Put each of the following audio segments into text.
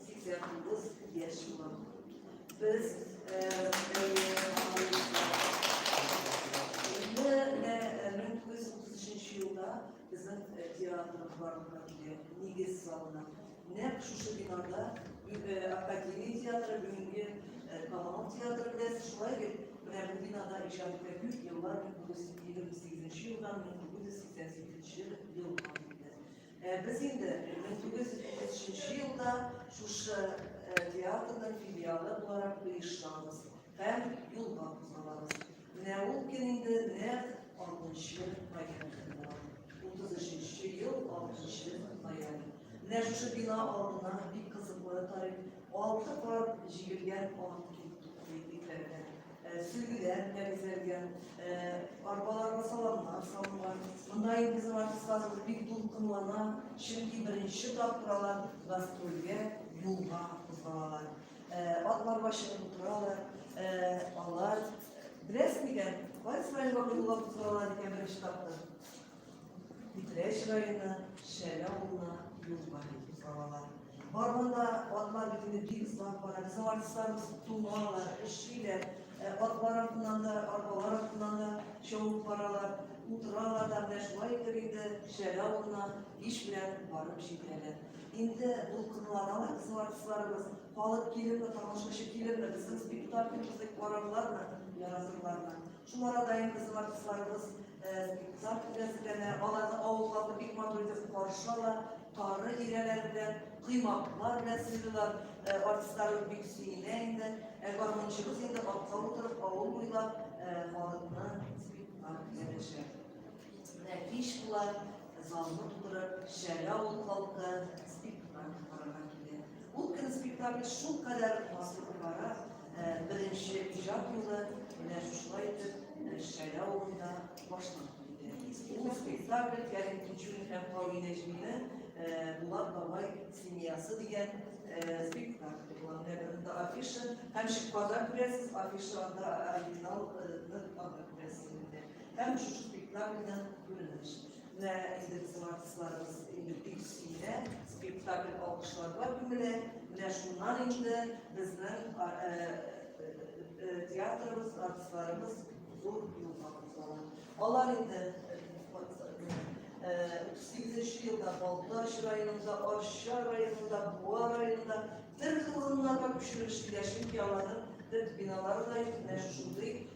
89 яшь була. Без нәкъ шушы бинада академия театры бүгенге Камал театры белән шулай бит менә бу бинада иҗат итә күп еллар 1928 елдан 1988 елга кадәр Ә без инде 1933 елда шушы театрның филиалы буларак оештырабыз һәм юлга кузгалабыз. Менә ул көн инде нәкъ 60 ноябрь көне була. 33 ел 60 ноябрь. Менә шушы бина алдына бик кызыклы тарих алты кат җигелгән ат килеп туктый, Сүгеләр белән бизәлгән, арбаларга саламнар салынган. Монда инде безнең артистларыбыз бик дулкынлана, чөнки беренче тапкыр алар гастрольгә юлга кузгалалар. Атларга чыгып утыралар, алар беләсез микән, кайсы районга юлга кузгалалар икән беренче тапкыр? Питрәч районы Шәле авылына юл бар иде балалар. Барганда атлар бит инде бик озак бара. Без аңарсыздан туңалар, өшиләр. Ә, Атлар артыннан да, арбалар артыннан да чабып баралар. Утыралар да, менә шулай итеп инде Шәле авылына иш белән барып җитәләр. Инде дулкынланалар безнең артистларыбыз. Халык килерме, тамашачы килерме, безнең спектакльбызны карарлармы, яратырлармы? Шул арада инде безнең артистларыбыз Зат белән бүләнә, аларны авыл халкы бик матур итеп каршы ала, тары өйрәләре белән, коймаклар белән сыйлыйлар. Артистларыбыз бик сөенә инде. Ә гармунчыбыз инде атка утырып авыл буйлап халыкны спектакль язачак. Менә кич була, залны тутырып, Шәле авыл халкы спектакль карарга килә. Ул көнне спектакль шулкадәр матур бара, Беренче иҗат юлы менә шушылай итеп Шәлә авылында башланып китте. Бу спектакль Кәрим Тинчурин һәм Кави Нәҗминең Булат бабай семьясы дигән спектакль була. Менә бирдә афиша һәм шикарда күрәсез, афишада оригинал һәм шушы спектакльдән күренеш. Менә инде безнең артистларыбыз инде бик сөенә, спектакль алкышларга күмелә. Менә шуннан инде безнең э, э, э, театрыбыз, артистларыбыз зур юлга кузгала. Алар инде 38 елда Балтач районында, Арча районында, Буа районында төрле урыннарга күчерелештеләр, чөнки аларның төп биналары да менә шушындый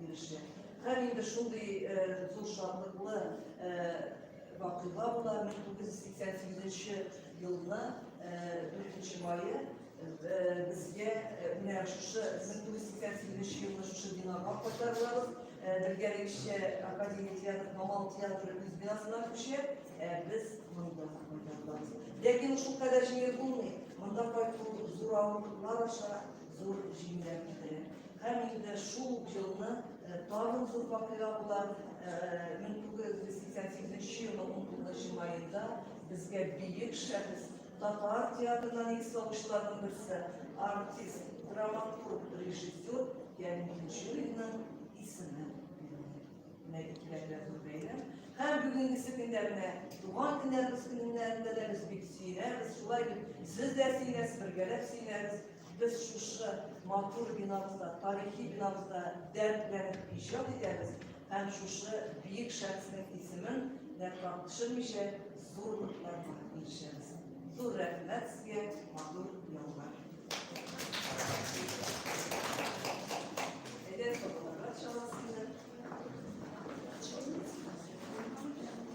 Бирешә. Һәм инде шундый зур шатлыклы вакыйга була 1988 елны 4 мае безгә менә шушы 1988 елны шушы бинага кайтарылабыз. Бергәлегешчә Академия театры, Камал театры үз бинасына күчә, ә без монда кайтарылабыз. Ләкин шул кадәр җиңел булмый. Монда кайту зур авырлыклар аша Зур җиңүләр китерә. Һәр илдә шул елны тагын зур вакыйга була. 1988 елы 19 җимаенда безгә бөек шәхес татар театрынан икс алучыларның берсе артист, драматург, режиссер Янминчуринның исеме Һәм бүгінгі секундә менә туган көннәребез көннәрендә дә без бик сөйләбез, шулай бит. Сез дә сөйләсез, бергәләп сөйләбез. Без шушы матур бинабызда, тарихи бинабызда дәртләнеп иҗат итәбез һәм шушы биек шәхеснең исемен нәфрак төшермичә зурлыкларга ирешәбез. Зур рәхмәт сезгә, матур ялга. Әйдә,